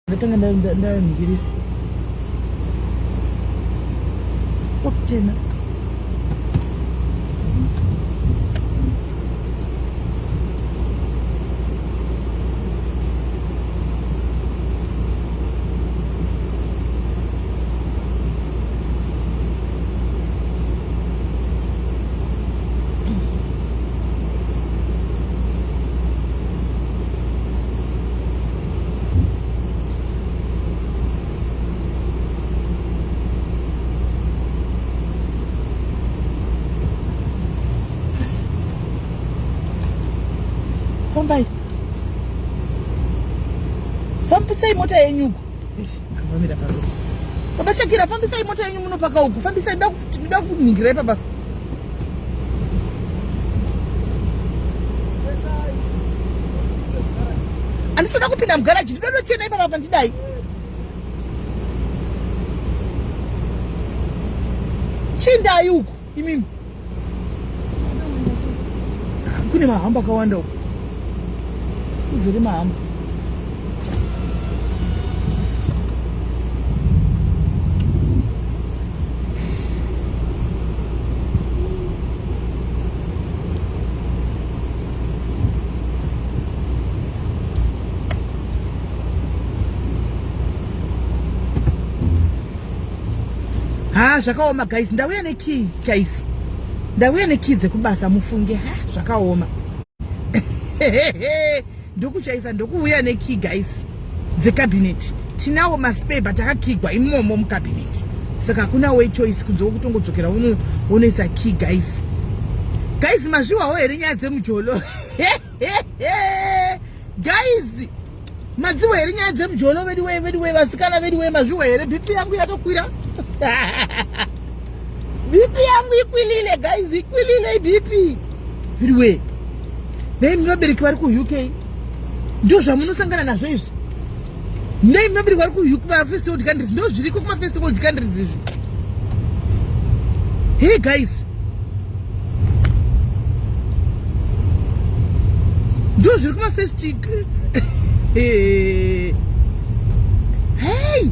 Ndatanga ndayanhikiri okutena fambai fambisai mota yenyuko vamira paro baba shakira fambisai mota yenyu munopaka uku fambisai daku Tinoda kuningira ipapa. Andisoda kupinda mugaraji, ndinoda kuchena ipapa pandidai. Chindai uku imimi. Kune mahamba akawanda uku. Uzere mahamba. ha zvakaoma guys ndauya nekey guys ndauya nekey dzekubasa mufunge ha zvakaoma ndokuchaisa ndokuuya nekey guys dzecabinet tinawo maspare but akakigwa imomo mucabinet saka hakuna way choice kunze kwekutongodzokera unoisa key guys guys mazviwawo here nyaya dzemujolo guys madziwa here nyaya dzemujolo veduwee veduwee vasikana veduwee mazviwa here bp yangu yakakwira bp yangu ikwilile guys ikwilile bp Viriwe. Nei muvabereki vari kuUK? Ndizvo zvamunosangana nazvo izvi. Nei muvabereki vari kuUK pa first world countries? Ndizvo zviriko kuma first world countries izvi. Hey guys. Ndizvo zviri kuma first Hey. Hey.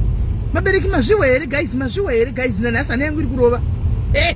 Mabereki mazviwa here guys, mazviwa here guys, nanhasi hana yangu iri kurova. Hey.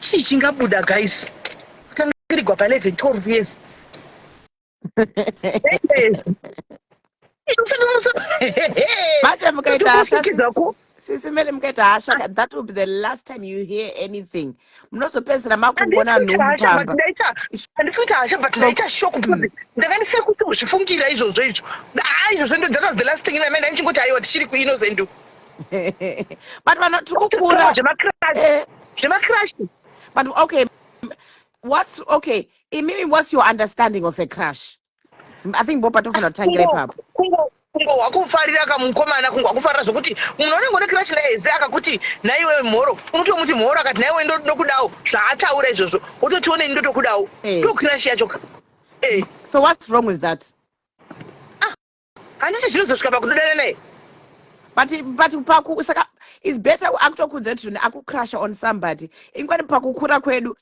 chii chingabuda guys kutangirirwa pa 11 12 years manje mukaita hasha sisi mele mukaita hasha ah. that will be the last time you hear anything munozopedzisira makugona nhuhandisikuita hasha but ndaita shok mm. ndanga ndisiri kutozvifungira izvozvo izvo haa ah, izvozvo ndo that was the last thing inamai ndainchingoti aiwa tichiri kuinnocentuku but vanhu tiri kukura eh. zvemakirash but okay what's okay imimi what's your understanding of a crash i think bopa tofanira kutangira ipapo kungo wakufarira kamukomana kungo wakufarira zvokuti munhu anenge une kirashi laeze akakuti naiwe mhoro unotomuti mhoro akati naiwe ndokudawo zvaataura izvozvo wototiwo neni ndotokudawo eh. to kirashi yacho ka eh. so what's wrong with that handisi zvinozosvika pakudodana naye but but paku saka is better akutokuudza kuti zvino akucrusha on somebody inkwani pakukura kwedu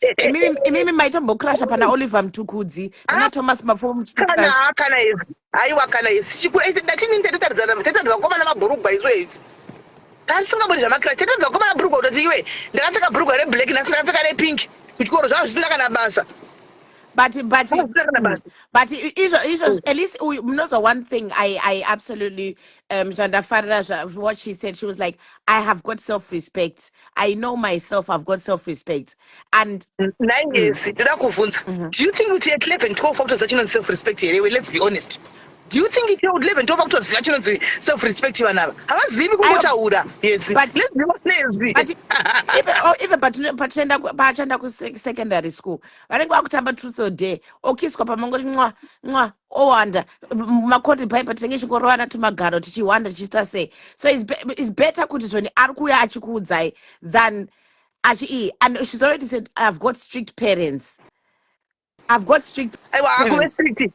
imimi maitombocrusha pana oliver mtukudzi pana ah, thomas mafomo muchitikanakana izi aiwa kana izi chikura isi ndatinini tatotaridzana tataridzana kukomana mabhurugwa isu izi tasingaboni zvamakira tataridzana kukomana bhurugwa kutoti iwe ndakapfeka bhurugwa reblack nasi ndakapfeka repink kuchikoro zvava zvisina kana basa but but mm, but izvo izvo mm. at least uyu munoza one thing i i absolutely um zvandafarira zva what she said she was like i have got self respect i know myself i've got self respect and naingesi mm. toda kuvhunza mm-hmm. do you think kuti at 11 12 fakutoziva chinonzi self respect here iwe let's be honest do you think ityou 11 tova kutoziva chinonzi self respect vanhu ava havazivi kungotaura yesipachaenda oh, pachanda kusecondary school vanenge vakutamba truth or dare okiswa pamangoti nwa nwa owanda makoti pai patinenge chingorovana tumagaro tichihwanda tichiita sei so is better kuti zvoni ari kuuya achikuudzai than achi ii and she's already said ihave got strict parents ihave got strict aiwa akuve strict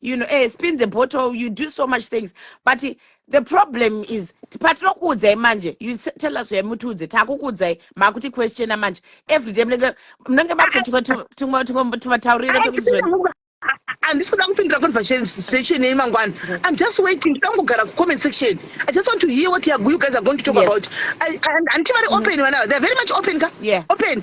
you know eh, spin the bottle you do so much things but the problem is patinokuudzai manje you tell us uya mutiudze takukuudzai makuti questiona manje every day munenge munenge makutotumataurira handisi kuda kupindura conversation yenyu mangwana i'm just waiting ndoda kungogara kucomment section i just want to hear what you guys are going to talk yes. about handiti vari open vana mm. they're very much open ka yeah. open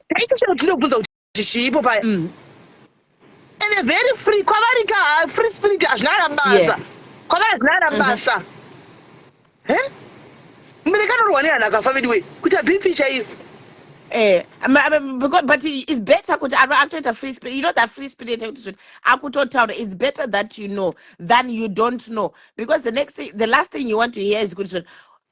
Icho chero tinobvunza kuti chiipo paya. Mm. And a very free kwavari ka ah, free spirit hazvina kana basa. Yeah. Kwavari hazvina kana mm-hmm. basa. Mm -hmm. Eh? Mbereka anorwa nehana akafa veduwe kuti abipi chaiyo. Eh, because, but it's better kuti akutoita free spirit you know that free spirit yekuti zvino akutotaura it's better that you know than you don't know because the next thing, the last thing you want to hear is kuti zvino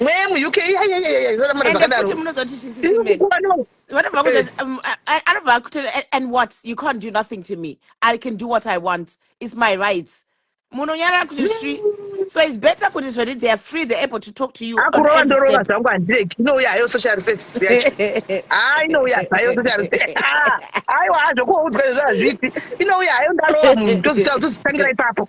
mweya muuk iyaiyaiyaiaamazvakadaro anobva akuti and what you can't do nothing to me i can do what i want its my rights munonyarara kuti svi so its better kuti zvedi they are free they're able to talk to you akurova ndorova zvangu handireki inouya hayo social service yacho ha inouya zvayo social service aiwa hazvo kuoudzwa izvo hazviti inouya hayo ndarova munhu tozitangira ipapo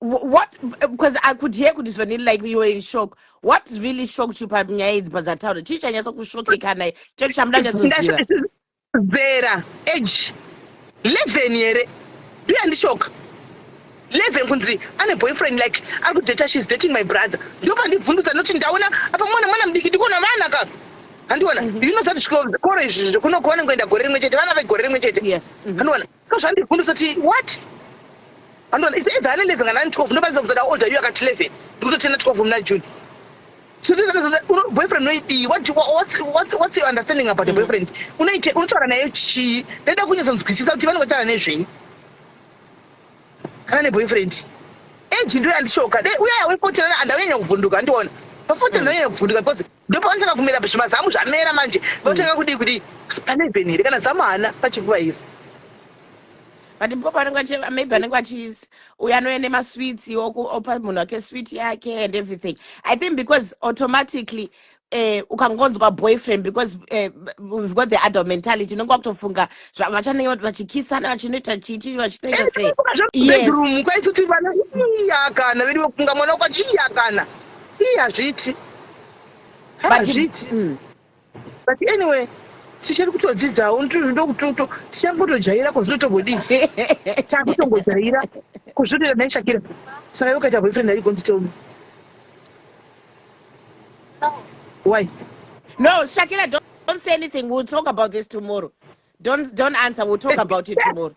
Wh- What? Because I could hear kuti Svanili like you were in shock. What really shocked you panyaya idzi padzataura? Chii chanyatsa kushokeka naye? Chii chamuda nyatsoziva? zera age 11 here do yandishoka 11 kunzi ane boyfriend like ari kudata she's dating my brother ndo pandibvundutsa noti ndaona apa mwana mwana mudiki ndikuona vana ka handiona Mhm. you know that zvikoro izvi zvekuno kwavanenge kuenda gore rimwe chete vana vegore rimwe chete Yes. mhm. handiona so zvandibvundutsa kuti what Andoona it's either ane 11 kana ane 12 ndokwanisa kuzoda older you akati 11 ndikutotenda 12 muna June. So this is boyfriend noidii what do, what's what's what's your understanding about mm. a boyfriend? Unoite unotaura naye chii? Ndaida kunyatsa nzwisisa kuti vanenge taura nezvei. Kana ne boyfriend. Age ndoyo andishoka. Dai uyaya we 14 andaunyanya kuvhunduka andiona. Pa 14 mm. ndaunyanya kuvhunduka because ndopavanotanga kumera bva zvimazamu zvamera manje votanga kudii kudii pane even here kana zamu haana pachifuva izi but mpo panenge maybe anenge achis uyo anouya nemasweets opa munhu wake sweet yake and everything i think because automatically eh, ukangonzwa boyfriend because eh, we've got the adult mentality unenge wakutofunga vachanenge vachikisana vachinoita chichi vachitoita eh, sei yes. kwaitoti vana iyakana vedu vakunga mwana kwachi iyakana Ii hazviiti. But- Hazviiti. Mm. But anyway, tichiri kutodzidzawo unoti zvinoda kuti uto- tichangotojaira ko zvinotombodii. Takutongojaira ko zvinotoita nhai Shakira. Saka iwe ukaita boyfriend are you going to tell me? Why? No, Shakira, don't, don't say anything. We'll talk about this tomorrow. Don't don't answer. We'll talk about it tomorrow.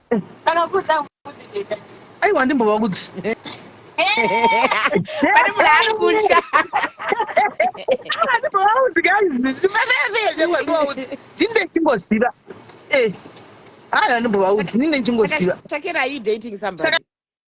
aiwa handimbova kudzi pane munhu ari kutya handimbova kudzi ndini ndechingoziva eh, haa handimbova kudzi ndini ndechingoziva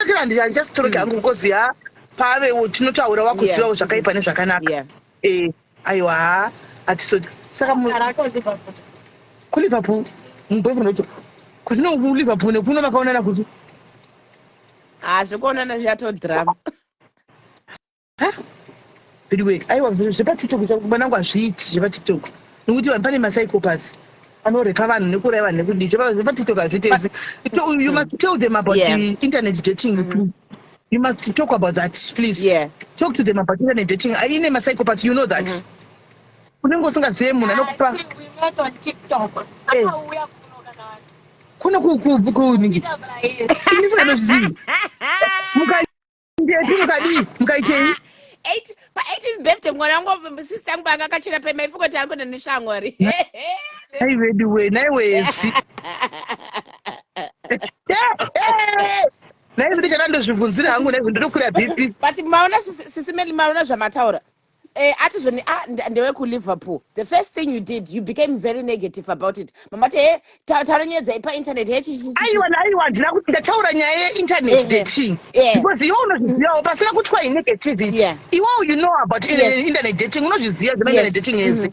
Ndakira ndiri andichasitoroke hangu because ya pave tinotaura wakuzivawo zvakaipa nezvakanaka. Eh, aiwa ha atisodi. Saka mu Ku Liverpool. Mbovu nocho. Kuzino ku Liverpool nekuno makaonana kuti. Ah, zvekuonana zviyato drama. veduwee aiwa zvepatiktok mwanangu hazviiti zvepatiktok nokuti vanhu pane masycopath anorepa vanhu nekuuraya vanhu nekudii zvepatiktok hazviitezi you must tell them about yeah. internet dating mm -hmm. please you must talk about that please yeah. talk to them about internet dating aine masycopath you know that mm -hmm. unenge usingazive munhu anokupa kuno kuningi ini singanozvizivi ndeti mukadii mukaitei eight pa eighteen birthday mwana wangu sister yangu paanga akachera pema ifuko kuti ari kuenda neshamwari nai veduwe nai wesi nai vedu chada ndozvibvunzira hangu nai ndinokwira bp but maona sisimeli maona zvamataura Eh, ati zvoni ah, nde- ndewe kuliverpool the first thing you did you became very negative about it mamati he ta- taura nyaya dzaipa internet he chichichichi aiwa aiwa handina kuti ndataura nyaya yeinternet ehe dating yeah because iwe unozvizivawo pasina kutwa inegativity yeah iwewo you know about in- yeah in- internet dating unozviziva zvema internet yes dating mm-hmm. ese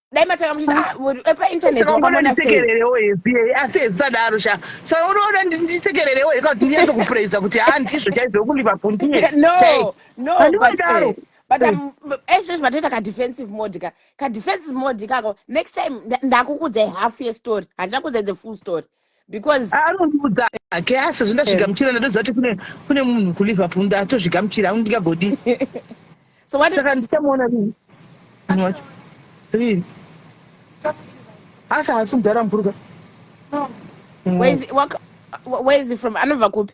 dai matanga muchiti ah, painternet wakambonasekererewo hesie asi hezvisadaro sha so unoona ndisekererewo heka kuti ndinyaso kupraisa kuti ha ndizvo chaizvo wokulipa pundiyeandiwadaro eh, but eh. um, ezvo izvo vatoita kadefensive mode ka kadefensive mode ikako next time ndakukudzai half yestory handichakudzai the full story because anondiudza hake asi zvindazvigamuchira ndoziva kuti kune kune munhu kuliverpool ndatozvigamuchira anu ndingagodi so what saka ndichamuona rini munhu wacho rini asi haasi mudhara mukuru ka where is, where is he from anobva kupi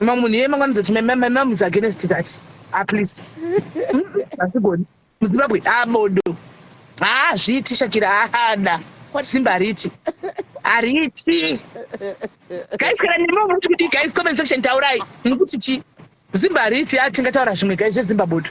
ma munhu iye mangwana dzoti mama is against that ah please hasigoni muzimbabwe ah bodo haa zviiti shakira haada kwati simba hariti hariti guys kana nemi muti kuti guys comment section taurai mukuti chi zimba hariti a ah, tingataura zvimwe guys zvezimba bodo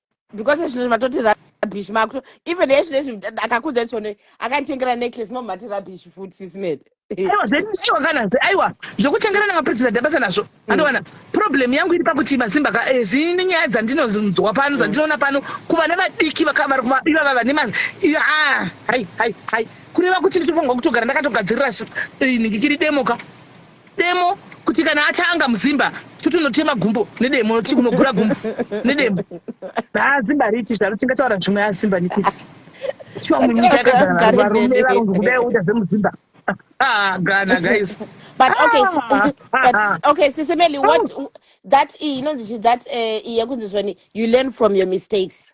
because ezvinezvi matoti rabish makuto even ezvinezvi akakudza chone akanditengera necklace mamati rabish futi sisimede aiwa aiwa kana aiwa zvokutengera namapresident abasa nazvo mm. andowana problem yangu iri pakuti mazimba ka eh, zine nyaya dzandinonzwa pano mm. dzandinoona pano kuva nevadiki vakavara kuva iva vava nemazi ah, hai hai hai kureva kuti nditofanirwa kutogara ndakatogadzirira eh, nhingi kiri demoka Demo kuti kana atanga muzimba tutunotema gumbo nedemo ti kunogura gumbo nedemo ha zimba riti zvaro tingataura zvimwe ya zimba nikisi chiwa munyika yakagara varume varungu kudai uita zvemuzimba Ah, Ghana, guys. but okay, ah, but ah, ah. okay, Sisimeli, what oh. that is, you know, that uh, you learn from your mistakes.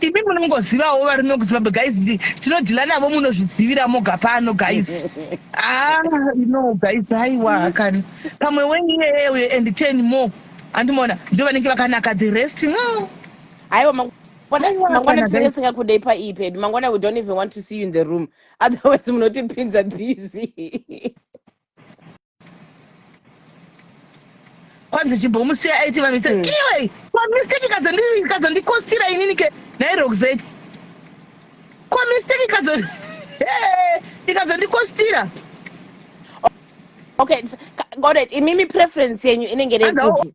imi munongozivawo varinokuziva but guys tinodhila navo munozvizivira moga pano guys ah no guys haiwa kani pamwe wenyu iyeye uye and ten more andimona ndo vanenge vakanaka the rest mm. haiwa no. mangwana tisenge singakudei paipad mangwana we don't even want to see you in the room otherwise munotipinza busy kwanzi chimbomusiya aiti vamisa hmm. iwe kwamistake kazondikostira inini ke nairoxet kwamistake kazo ikazondikostira okay got it imimi preference yenyu inenge nekupi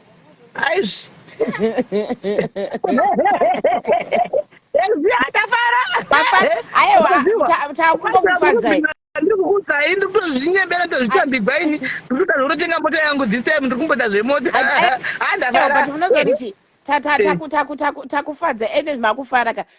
Aizvi. Yaziva ndafara. Mafa ayewa takungokufadzai. Ndiri kukudzai ndiri kutozvinyembera ndozvitambigwa ini. Ndiri kuda zvekutotenga mota yangu this time ndiri kumboda zvemota. Handafara. But munozoti chi? Takufadza ende makufara ka.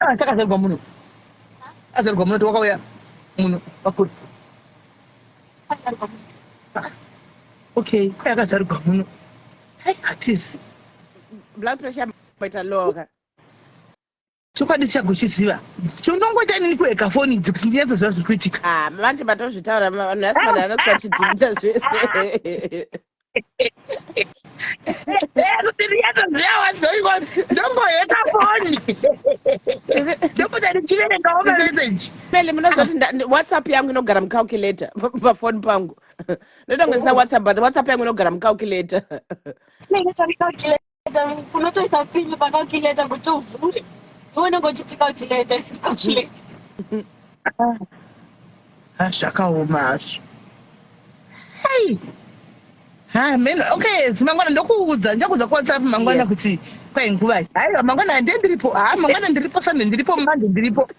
Ah, saka azvarirwa muno azvarirwa muno tiwakauya muno pakuri ah, okay kwai akazvarirwa muno hai hatisi blood pressure maita loka chokwadi chago chiziva chinongoita inini kueka foni idzi kuti ndinyatsoziva zviri kuitika ah, vange vatozvitaura vanhu vasimana vanosi vachidzivisa zvese kuti riyato zviyawa zvoivona ndomboheta foni ndobuda ndichiverengawo mameseji mele munozoti whatsapp yangu inogara mucalculator pafoni pangu ndotongoisa whatsapp but whatsapp yangu inogara mucalculator kunotoisa pini pakalculator kuti uvhure iwe unenge uchiti calculator isiri calculator ah, zvakaoma hazvo hei hameno ah, okay zimangwana ndokuudza ndichakuudza kuwhatsapp mangwana kuti kwai nguvai haiwa mangwana handie ndiripo haa ah, mangwana ndiripo sande ndiripo mande ndiripo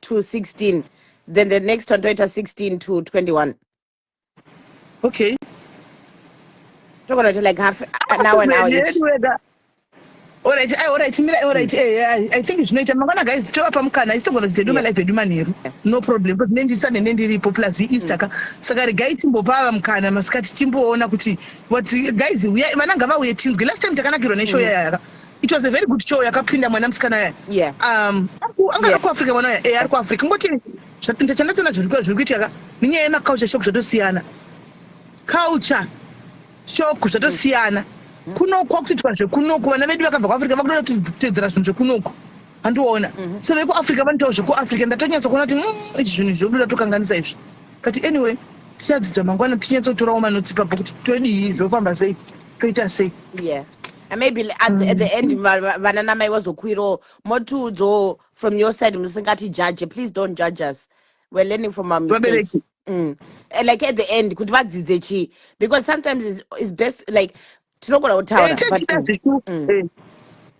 to 16 then the next one toita 16 to 21 okay togona to like half an hour an hour each Alright, I, alright, Mira, alright, mm. eh, I, eh, I think zvinoita mangwana guys tovapa mukana isi togona kudzidza duma live edu manheru no problem because ne ndiri sande nendiripo plus easter mm. ka saka regai timbopava mukana masikati timboona kuti what guys uya vana ngavauye tinzwe last time takanakirwa neshow mm. yayaka It was a very good show yakapinda mwana musikana yaya. Yeah. Um, anga yeah. kuAfrica mwana yaya. Eh, ari kuAfrica. Ngoti ndachandatoona zviri zviri kuitika ka. Nenyaya yema culture shock zvatosiyana. Culture shock zvatosiyana. Mm. Mm-hmm. Kunoku kwakutoitwa zvekunoku vana vedu vakabva kuAfrica vakuda kutedzera zvinhu zvekunoku. Andiona. Mm-hmm. So vekuAfrica vanotaura zvekuAfrica ndatonyatsa kuona kuti mm, izvi zvinhu zvodu zvatokanganisa izvi. But anyway, tichadzidza mangwana tinyatsa kutorawo manotsipa kuti todii zvofamba sei. toita sei yeah and maybe at the, at the end mm. vana namai vazokwirawo motiudzawo from your side musingati judge please don't judge us we're learning from our mistakes mm. Eh, like at the end kuti vadzidze chii because sometimes is best like tinogona kutaura eh, mm. eh.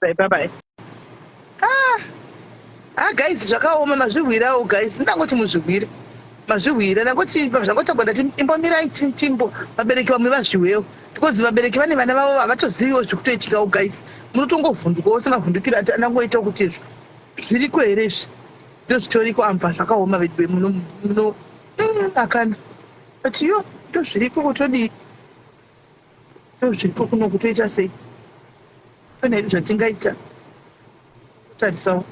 Bye bye bye. Ah, ah guys zvakaoma mazvihwirawo guys. Ndangoti muzvihwire. Mazvihwira ndangoti zvangotagwa ndati imbomirai ti- timbo vabereki vamwe vazviwewo because vabereki vane vana vavo havatoziviwo zviri kutoitikawo guys. Munotongovhundukawo semavhundukiro ati andangoita kuti izvo zviriko here izvi ndozvitoriko amva zvakaoma veduwe muno muno Mm, akana but yo ndozviriko kutodii Zviripo kuno kutoita sei? Pane here zvatingaita? Tarisawo.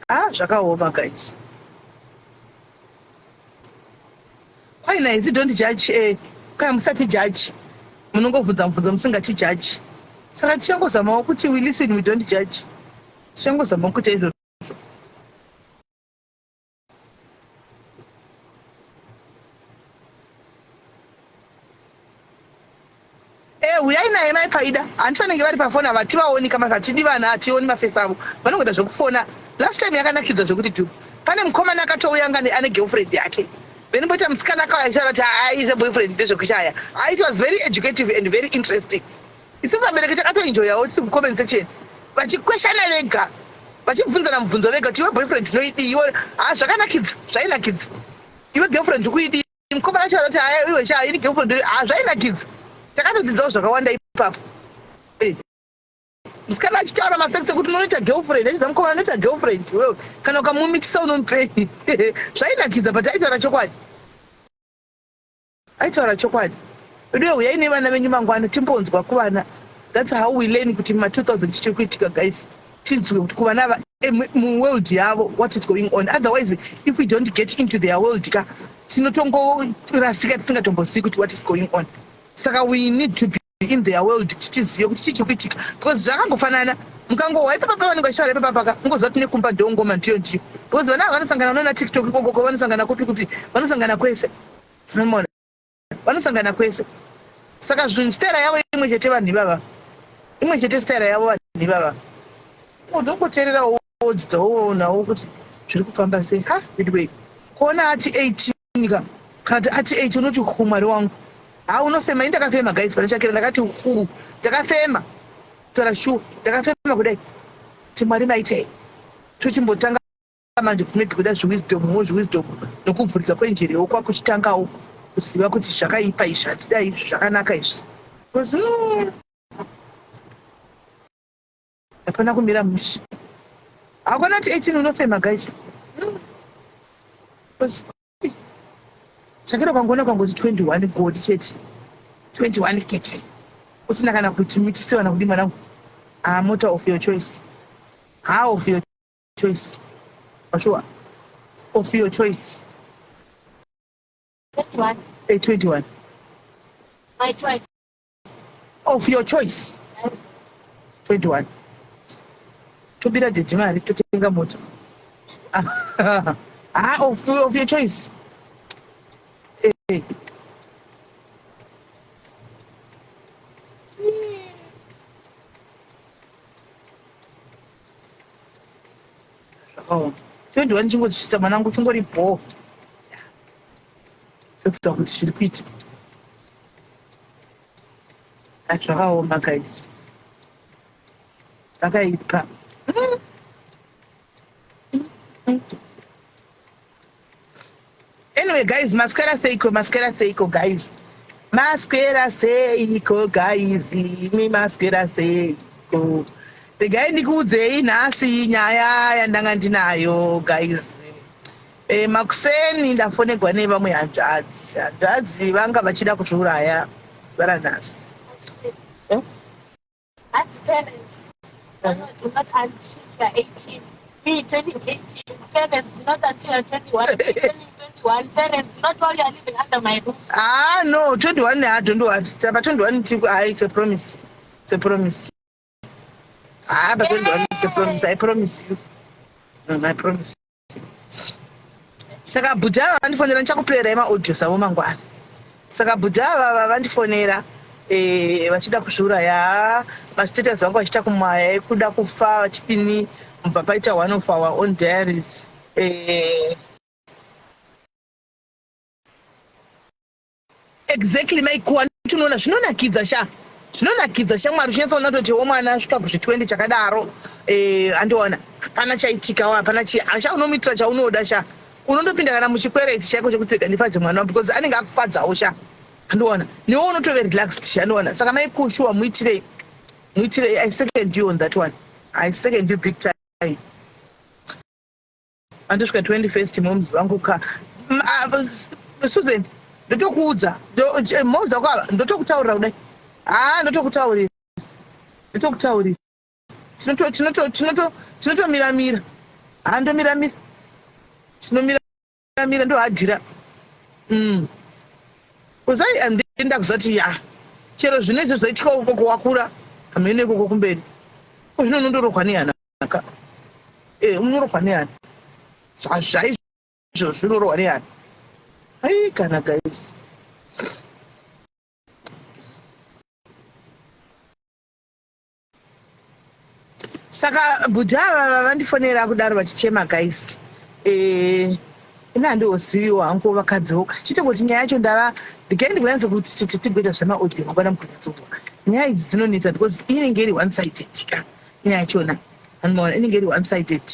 Ah, zvakaoma guys. Kwai naizi don't judge eh kwai musati judge. Munongobvunza mubvunzo musingati judge. Saka tichangozamawo kuti we listen we don't judge. Tichangozamawo kuita izvozvo. Eh, huyai naye mai paida hanti vanenge vari pafoni ava hativaoni kama hatidi vana hationi mafesi avo vanongoda zvekufona last time yakanakidza zvekuti tu pane mukomana akatouya ngani ane girlfriend yake then poita musikana akauya achitaura kuti aizve boyfriend ndezvekushaya it was very educative and very interesting Isu vabereki takatoenjoyawo tiri kucomment section vachikweshana vega vachibvunzana mubvunzo vega kuti iwe boyfriend tinoidii iwe ha ah, zvakanakidza zvainakidza iwe girlfriend ukuidii mukoma yacho anoti aya iwe sha ini girlfriend ha ah, zvainakidza takatodzidzawo zvakawanda ipapo eh. musikana achitaura mafacts ekuti unonoita girlfriend achidza mukoma anoita girlfriend iwewe kana ukamumitisa unomupenyi zvainakidza but aitaura chokwadi Aitaura chokwadi. Veduwe huyai nevana venyu mangwana timbonzwa kuvana. That's how we learn kuti ma 2000 chichiri kuitika guys. Tinzwe kuti kuvana ava eh, mu world yavo what is going on. Otherwise if we don't get into their world ka tinotongorasika tisingatombozivi kuti what is going on. Saka we need to be in their world kuti tizive kuti chii chiri kuitika because zvakangofanana mukangohwa ipapa pavanenge vachitaura ipapa paka ungoziva kuti nekumba ndongoma ndiyo ndiyo because vana ava vanosangana unona tiktok ikokoko vanosangana kupi kupi vanosangana kwese nomona vanosangana kwese saka zvinhu staira yavo imwe chete vanhu ivava imwe chete staira yavo vanhu ivava unongoteererawo wodzidza woonawo kuti zviri kufamba sei ha veduwei kuona ati eighteen nyika kana kuti ati eight unoti huu mwari wangu ha unofema ini ndakafema guys pane chakera ndakati huu ndakafema kutaura shuwa ndakafema kudai kuti mwari maitei tochimbotanga manje kumaybe kuda zviwisdom mo zviwisdom nokuvhurika kwenjere yoko kwakuchitangawo kuziva kuti zvakaipa izvi hatida izvi zvakanaka izvi Hapana kumira mushe. Hakuna kuti 18 unofema guys. Mm. Zvakera kwangona kwangoti 21 godi chete. 21 kete. Usina kana kuti mitisi wana kudi mwanangu. Ah, motor of your choice. How of your choice. For sure. Of your choice. 21. Hey, 21. My choice. of your choice 21 tobira jeje mari totenga mota ha ah, of, of your choice hey. Eh, eh. Oh. 21 chingotisvitsa mwanangu chingori bhoo toziva kuti zviri kuita zvakaoma guys zvakaipa anyway guys maswera seiko maswera seiko guys maswera seiko guys imi maswera seiko regai ndikuudzei nhasi nyaya yandanga ndinayo guys E, makuseni ndafonegwa nevamwe hanzvadzi hanzvadzi vanga vachida kuzviuraya zuva ranhasi eh? hanzi parents vanoti not until you're 18 me turning 18 parents not until you're 21 turning 21 parents not while you're living under my roof ah no 21 i don't want but 21 i it's a promise it's a promise Ah, but then don't to promise. I promise you. No, I promise you. Saka bhuti ava vandifonera ndichakupera emaaudio savo mangwana. Saka bhuti ava vandifonera eh, vachida kuzviuraya mastatus vangu vachita kumaya ekuda kufa vachidini mubva paita one of our own diaries eh, Exactly mai kuwa tunoona zvinonakidza sha zvinonakidza shamwari uchinyatsaona kutoti wo mwana asvika kuzvi 20 chakadaro eh, andiona hapana chaitika hapana chi asha unomuitira chaunoda sha unondopinda kana muchikwereti chaiko chekuti rega ndifadze mwana wa because anenge akufadzawo sha andiona newo unotove relaxed andiona saka mai kushuwa muitirei muitirei i second you on that one i second you big time Andosvika 21st moms vangu ka mm, ah, Susan ndotokuudza eh, moms vako ava ndotokutaurira kudai haa ah, ndotokutaurira ndotokutaurira tinotomira mira haa ah, ndomira mira tinomira mira ndohadhira mm. kuzai andinda kuzoti ya chero zvine izvo zvoitika ukoko wakura hameno ikoko kumberi ko zvino unondorohwa nehana zvakanaka eh, unorohwa neani zvaizvo zvinorohwa neani ai kana guys saka bhudhi ava vandifonera kudaro vachichema guys eh, ini handiwoziviwo hangu vakadziwo chete kuti nyaya yacho ndava ndikai ndikuyanza kuti tigoita zvemaaudio mangwana mukutadzoka nyaya idzi dzinonetsa because inenge iri one sided ka nyaya yachona vanhu maona inenge iri one sided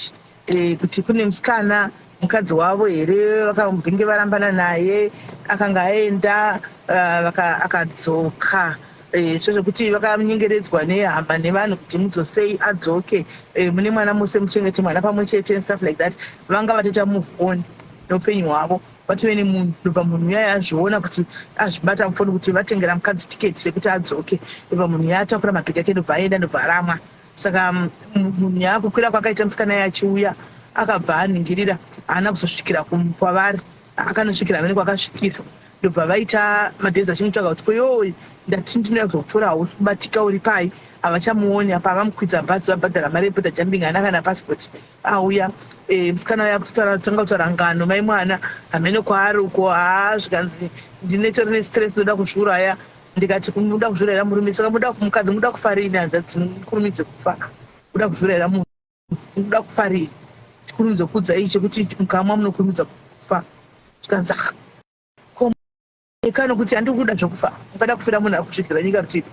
eh, kuti kune musikana mukadzi wavo here vakambenge varambana naye akanga aenda eh, akadzoka eh, so zvekuti vakanyengeredzwa nehama nevanhu kuti mudzosei adzoke eh, mune mwana mose muchengete mwana pamwe chete and stuff like that vanga vatoita move on neupenyu hwavo Patove nemunhu ndobva munhu uya azviona kuti azvibata mufoni kuti vatengera mukadzi tiketi rekuti adzoke ndobva munhu uya atakura mabhegi ake ndobva aenda ndobva aramwa saka mm, munhu uya kukwira kwakaita musikana ye achiuya akabva aningirira haana kuzosvikira kwavari akanosvikira vene kwakasvikira ndobva vaita madhezi achimutsvaga kuti koyoi ndati ndinoya kuzokutora hausi kubatika uri pai havachamuoni apa avamukwidza bhazi vabhadhara mari yebuda jambing haana kana pasipoti auya eh, musikana uya kutanga kutaura ngano mai mwana hameno kwaari uko haa zvikanzi ndine tori nestress ndoda kuzviuraya ndikati muda kuzviurayira murume saka muda mukadzi muda kufarini hanzvadzi mukurumidze kufa muda kuzviurayira munhu muda kufarini tikurumidze kuudza ii chekuti mukamwa munokurumidza kufa zvikanzi ah, ikano kuti handiri kuda zvekufa ungada kufira munhu ari kusvikira nyika rutivi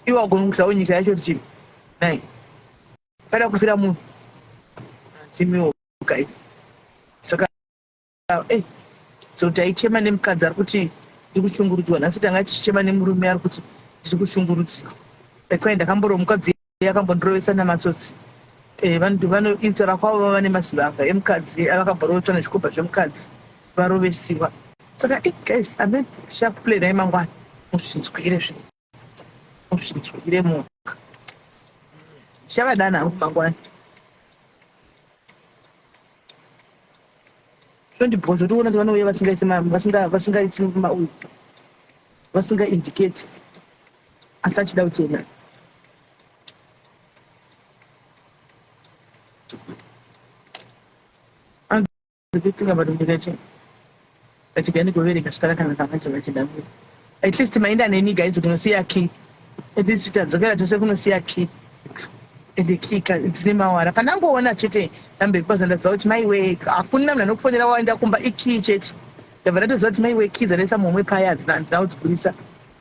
iwe agona kutawo nyika yacho rutivi nai ungada kufira munhu handimiwo guys saka e so taichema nemukadzi ari kuti ndiri kushungurudzwa nhasi tanga tichichema nemurume ari kuti ndiri kushungurudzwa ekwayi ndakamborowa mukadzi yakambondirovesa namatsotsi eh, vanhu vanoitara kwavo vava nemazivaka emukadzi eh, avakamborovetwa nezvikomba zvemukadzi varovesiwa saka eh, guys amen shapule dai mangwana muzvinzwire zve muzvinzwire munhu chavadana hangu mangwana zvondibhozvo toona kuti vanouya vasingaisi vasingaisi mauyu vasingaindicate asi achida kutenda kutika varungu vacho vachigani kuvereka svikara kana kavanje vachida kuya at least maenda neni guys kunosiya key at least tadzokera tose kunosiya key ende key dzine mawara pandangoona chete namba yekubaza ndaziva kuti mai wee hakuna munhu anokufonera waenda kumba ikey chete ndabva ndatoziva kuti mai wee key dzanesa muhomwe paya hadzina kudzigurisa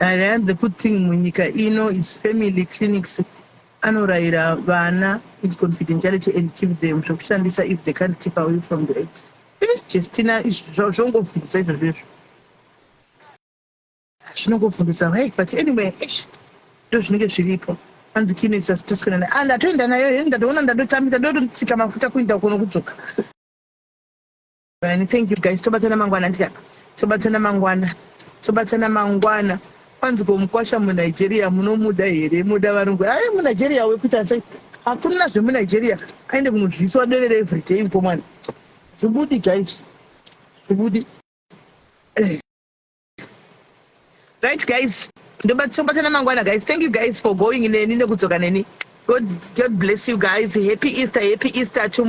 Nyaya dzekuthing munyika ino is family clinics anorayira vana in confidentiality and keep them zvekushandisa if they can't keep away from the act eh, jestina zvongovhundutsa izvozvo izvo zvinongovhundutsa why but anyway ish ndo zvinenge zviripo hanzi kino isa sitoskanana a ah, ndatoenda nayo heni ndatoona ndadotambisa ndototsika mafuta kuinda kuno kudzoka Vani, thank you guys tobatsana mangwana ndika tobatsana mangwana tobatsana mangwana kwanzi ko mukwasha munigeria munomuda here muda varungu ae munigeria wekuita sei hakuna zvemunigeria aende kunodliswa derere everyday ko mwana zvibudi guys zvibudi eh. right guys ndobatsana mangwana guys thank you guys for going neni nekudzoka neni god, god bless you guys happy easter happy easter to